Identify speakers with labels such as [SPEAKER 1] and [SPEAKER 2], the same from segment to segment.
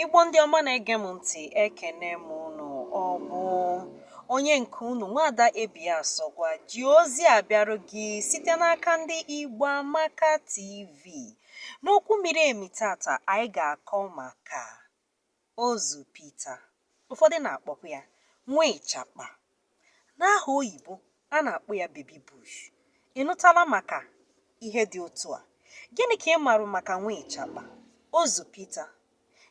[SPEAKER 1] Igbo ndị ọma na-ege m ntị ekene m unu ọ bụ onye nke unu nwada Ebi Asọgwa ji ozi a bịarụ gị site n'aka ndị Igbo Amaka TV n'okwu miri emi tata anyị ga-akọ maka Ozu Pita, ụfọdụ na-akpọkwa ya nwa ịchakpa. N'aha oyibo, a na-akpọ ya baby bush. Ị nụtana maka ihe dị otu a? Gịnị ka ị maara maka nwa ịchakpa, ozu Pita,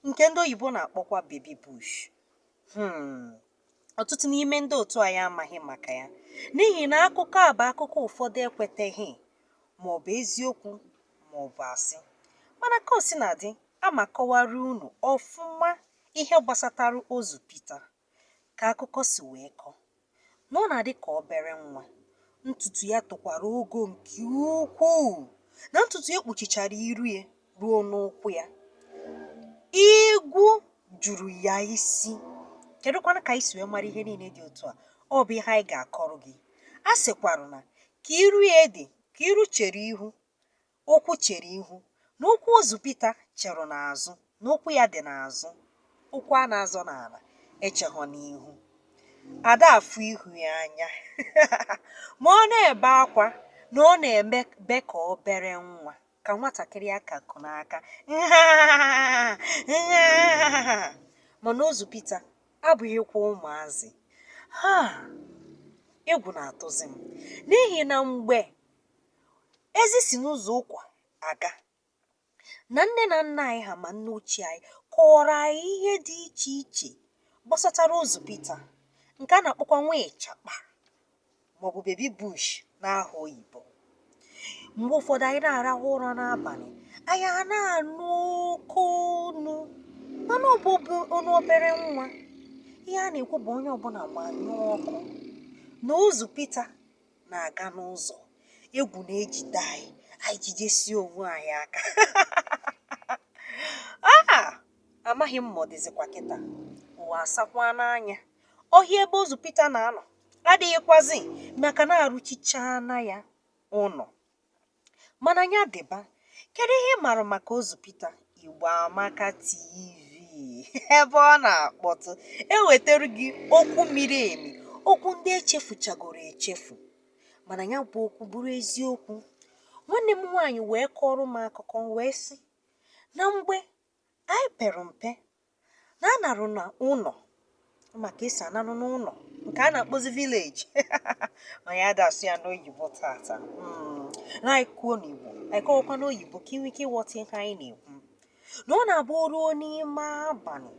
[SPEAKER 1] nke ndị oyibo na-akpọkwa baby bush? Hmm. ọtụtụ n'ime ndị otu anyị amaghị maka ya n'ihi na akụkọ a bụ akụkọ ụfọdụ ekweteghị ma ọ bụ eziokwu ma ọ bụ asị mana ka o sina dị aga m akọwara unu ọfụma ihe gbasatara ozu Pita ka akụkọ si wee kọ na ọ na-adị ka obere nwa ntutu ya tokwara ogo nke ukwuu na ntutu ya kpuchichara iru ya ruo n'ụkwụ ya. Igwu juru ya isi. Kedụkwanụ ka anyị si wee mara ihe niile dị otu a? Ọ bụ ihe anyị ga-akọrọ gị. A sịkwarụ na ka iru ya dị ka iru chere ihu, ụkwụ chere ihu, na ụkwụ ozu Pita cherụ n'azụ, na ụkwụ ya dị n'azụ, ụkwụ a na-azọ n'ala echeghọ n'ihu. Ada afụ ihu ya anya ma ọ na-ebe akwa na ọ na-ebe ka obere nwa. ka nwatakịrị a ka ku n'aka mana ozu Pita abụghịkwa ụmụazị ha egwu na-atụzi m n'ihi na mgbe ezi si n'ụzọ ụkwa aga na nne na nna anyị ha ma nne ochie anyị kọọrọ anyị ihe dị iche iche gbasatara ozu Pita nke a na-akpọkwa nwa ịchakpa maọbụ baby bush n'aha oyibo mgbe ụfọdụ anyị na-arahụ ụra n'abanị anyị ana-anụ oke onu mana ọ bụ onu obere nwa ihe a na-ekwu bụ onye ọbụna gbanyụọ ọkụ na ozu pita na-aga n'ụzọ egwu na-ejide anyị anyị ejidesie onwe anyị aka ah! amaghị m ma ọ dịzikwa kịta ụwa asakwaana anya ọhịa ebe ozu pita na-anọ adịghịkwazị maka na arụchichaana ya ụnọ. Mana nya dịba, kedu ihe ị maara maka Ozu Pita? Igbo Amaka TV ebe ọ na-akpọtụ ewetara gị okwu miri emi, okwu ndị echefuchagoro echefu mana nya bụ okwu bụrụ eziokwu. Nwanne m nwaanyị wee kọọrọ m akụkọ wee sị na mgbe Anyị pere mpe na anarụ n'ụnọ maka e si anarụ n'ụnọ nke a na-akpọzi village ma ya a da asụ ya n'oyibo tata Mm, na anyị kwuo n'Igbo anyị kọwakwa n'oyibo ka e nwee ike ịghọta ihe anyị na-ekwu na ọ na-abụ o ruo n'ime abalị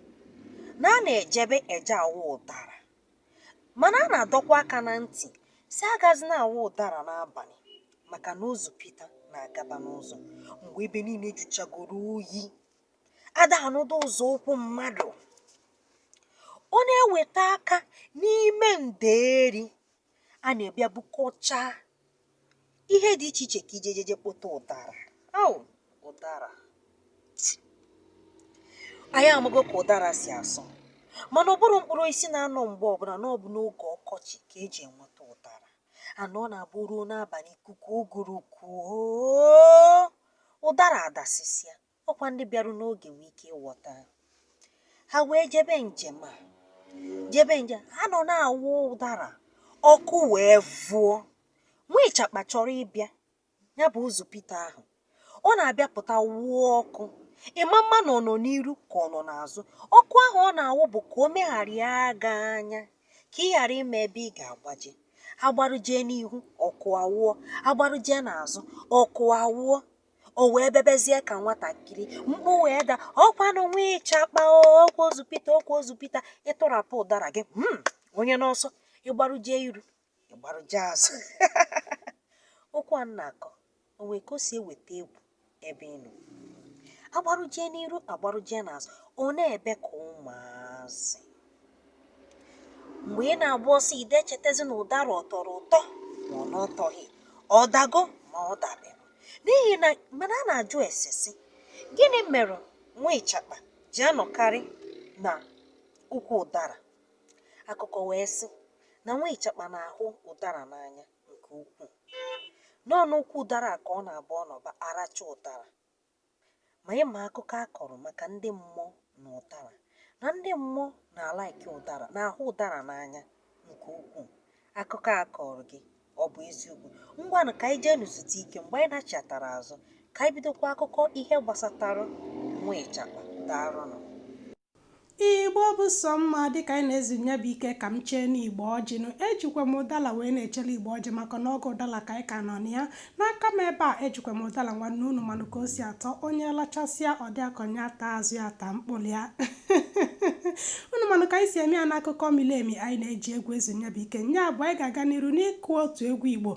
[SPEAKER 1] na a na-ejebe eje awọ ụdara Mana a na-adọkwa aka na ntị sị agazina awọ ụdara n'abalị maka na ozu Pita na-agaba n'ụzọ mgbe ebe niile jụchagoro oyi. A da anụdụ ụzụ ụkwụ mmadụ. Ọ na-eweta aka n'ime ndeeri a na-ebịa bukọchaa ihe dị iche iche ka i jejeje kpụta ụdara ahụ ụdara anyị amago ka ụdara si asọ mana ọ bụrọ mkpụrụ osisi na-anọ mgbe ọbụna na ọ bụ n'oge ọkọchị ka e ji enweta ụdara a na ọ na-abụ o ruo n'abalị ikuku ụgụrụ kuo ụdara adasịsịa Ọ kwa ndị bịarụ n'oge nwe ike ịwọta. Ha wee jebe njem a jebe njem ha nọ na-awọ ụdara ọkụ wee wụọ nwa ịchakpa chọrọ ịbịa ya bụ ozu Pita ahụ ọ na-abịa pụta wụọ ọkụ ị ma ama na ọ nọ n'iru ka ọ nọ n'azụ ọkụ ahụ ọ na-awụ bụ ka o megharịa gị anya ka ị ghara ịma ebe ị ga-agbaje a gbarụjee n'ihu ọkụ awụọ a gbarụjee n'azụ ọkụ awụọ o wee bebezie ka nwatakịrị mkpu wee daa ọkwanụ nwa ịchakpa ọkwa ozu pita ọkwa ozu pita ị tụrapụ ụdara gị hmm, onye n'ọsọ ị gbarụjie iru ị gbarụjie azụ ọkụ a na-akọ o nwee ka o si eweta egwu ebe ị nọ a gbarụjie n'iru a gbarụjie n'azụ ọ na-ebe ka ụmụazị mgbe ị na-agba ọsọ ị da echetezi na ụdara ọ tọrọ ụtọ ma ọ na ọ tọghị ọ dago ma ọ dabero n'ihi na mana a na-ajụ ese sị gịnị mere nwa ịchakpa ji anọkarị n'ukwu ụdara akụkọ wee sị na nwa ịchakpa na-ahụ ụdara n'anya nke ukwuu na ọ n'ukwu ụdara a ka ọ na-abụ ọ nọba aracha ụdara Ma ị ma akụkọ a kọrọ maka ndị mmụọ na ụdara? Na ndị mmụọ na-alike ụdara, na-ahụ ụdara n'anya nke ukwuu. Akụkọ a kọọrọ gị ọ bụ eziokwu? Ngwanụ ka anyị jeenụ zutu ike mgbe anyị nachịatara azụ ka anyị bidokwa akụkọ ihe gbasatara nwa ịchakpa. Daalụnụ. Igbo bụ sọ mma dịka anyị na-ezu nya bụ ike ka m cheenụ Igbo ọjị nụ. Ejikwa m ụdala wee na-echele Igbo ọjị maka na oge ụdala ka anyị ka nọ na ya. N'aka m ebe a, ejikwa m ụdala nwanne unu manụ ka o si atọ. Onye lachasịa ọ dị ya ka nya taa azụ ya taa mkpụlụ ya. unu manụ ka anyị si eme ya n'akụkọ mili emi anyị na-eji egwu ezu nya bụ ike. Nya bụ anyị ga-aga n'iru n'ịkụ otu egwu Igbo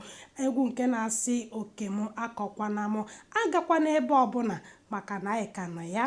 [SPEAKER 1] egwu nke na-asị oke m akọkwana m agakwana ebe ọbụna maka na anyị ka nọ ya.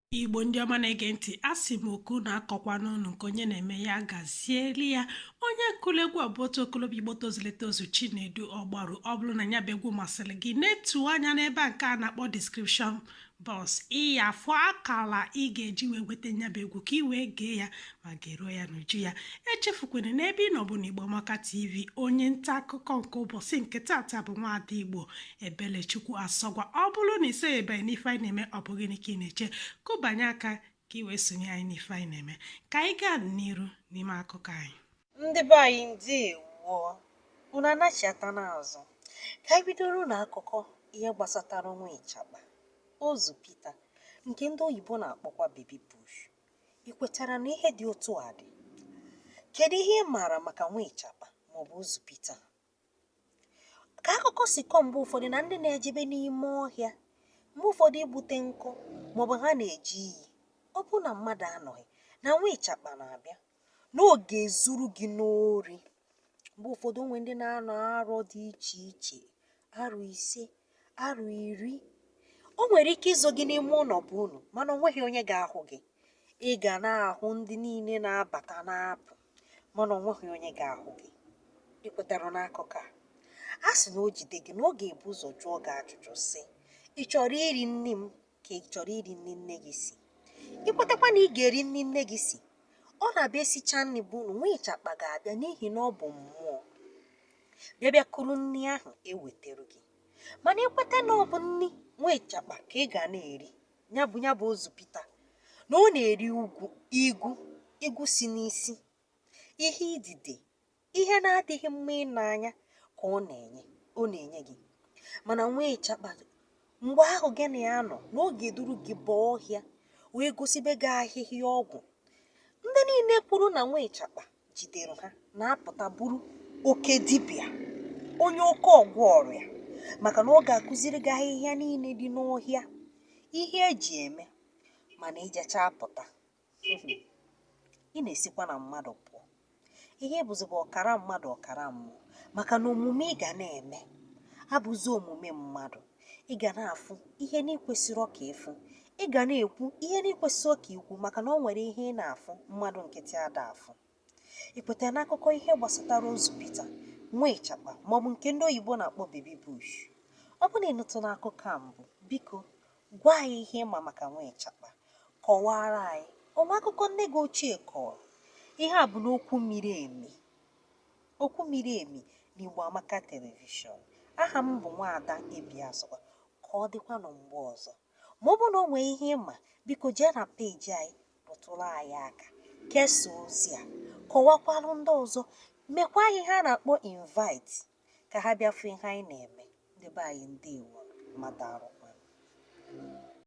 [SPEAKER 1] igbo ndị ọma na-ege ntị a sị m oke unu akọkwana unu nke onye na-eme ya gazieli ya onye kụlụ egwu ọ bụ otu okolobia igbo tozulu etozu chinedu ọgbaru ọ bụrụ na ya bụ egwu masịrị gị netụ anya n'ebe a nke a na-akpọ description box ị ya-afụ akala ị ga-eji wee nweta nya bụ egwu ka ị wee gee ya ma geruo ya n'uju ya echefukwana na ebe ị nọ bụ na igbo amaka tv onye nta akụkọ nke ụbọsị nke tata bụ nwaada igbo Ebelechukwu Asọgwa ọ bụrụ na isonyebeghị n'ife anyị na-eme ọ bụ gịnị ka ị na-eche kụbanye aka ka ị wee sonye anyị n'ife anyị na-eme ka anyị gaa n'iru n'ime akụkọ anyị ndị be anyị ndewo unu anachiata n'azụ ka anyị bidoronụ akụkọ ihe gbasatara nwa ịchakpa ozu Pita nke ndị oyibo na-akpọkwa baby bush ị kwetara na ihe dị otu a dị kedu ihe ị maara maka nwa ịchakpa maọbụ ozu Pita ka akụkọ si kọọ mgbe ụfọdụ na ndị na-ejebe n'ime ọhịa mgbe ụfọdụ igbute nkụ maọbụ ha na-eje iyi ọ bụrụ na mmadụ anọghị na nwa ịchakpa na-abịa na ọ ga-ezuru gị n'ori mgbe ụfọdụ o nwere ndị na-anọ arọ dị iche iche arọ ise arọ iri o nwere ike izo gị n'ime ụlọ be unu mana o nweghị onye ga-ahụ gị ị ga na-ahụ ndị niile na-abata na-apụ mana o nweghị onye ga-ahụ gị ị kwetara n'akụkọ a a sị na o jide gị na ọ ga-ebu ụzọ jụọ gị ajụjụ sị ị chọrọ iri nri m ka ị chọrọ iri nri nne gị si ị kwetakwa na ị ga-eri nri nne gị si ọ na-abụ e sichaa nri be unu nwa ịchakpa ga-abịa n'ihi na ọ bụ mmụọ bịa bịa kuru nri ahụ ewetara gị mana ị kweta na ọ bụ nri nwa ịchakpa ka ị ga na-eri ya bụ ya bụ ozu pita na ọ na-eri igwu igwu igwu si n'isi ihe idide Ihe na-adịghị mma ine anya ka ọ na-enye ọ na-enye gị mana nwa ịchakpa mgbe ahụ gị na ya nọ na ọ ga-eduru gị baa ọhịa wee gosibe gị ahịhịa ọgwụ ndị niile kwuru na nwa ịchakpa jidere ha na-apụta bụrụ oke dibịa onye oke ọgwọ ọrịa maka na ọ ga-akụziri gị ahịhịa niile dị n'ọhịa ihe e ji eme mana i jechaa pụta ị na-esikwa na mmadụ pụọ ihe ị bụzi bụ ọkara mmadụ ọkara mmụọ maka na omume ị ga na-eme abụzi omume mmadụ ị ga na-afụ ihe na-ekwesịrọ ka ị fụ ị ga na-ekwu ihe na-ekwesịrọ ka i kwu maka na ọ nwere ihe ị na-afụ mmadụ nkịtị ada afụ I kwetara n'akụkọ ihe gbasatara ozu Pita, nwa ịchakpa, maọbụ nke ndị oyibo na-akpọ baby bush? Ọ bụrụ na ị nụtụla akụkọ a mbụ, biko, gwa anyị ihe ị ma maka nwa ịchakpa. Kọwaara anyị, o nwee akụkọ nne gị ochie kọrọ? Ihe a bụ n'okwu miri emi. Okwu miri emi n'Igbo Amaka Telivishọn. Aha m bụ Nwaada Ebi Asọgwa. Ka ọ dịkwanụ mgbe ọzọ. Ma ọ bụrụ na o nwere ihe ị ma, biko jee na peeji anyị rụtụrụ anyị aka. Kesaa ozi a. Kọwakwara ndị ọzọ. Mekwa ha ihe a na-akpọ invite ka ha bịa fụ ihe anyị na-eme. Ndị be anyị, ndeewonụ. Mmadụ arụkwanụ.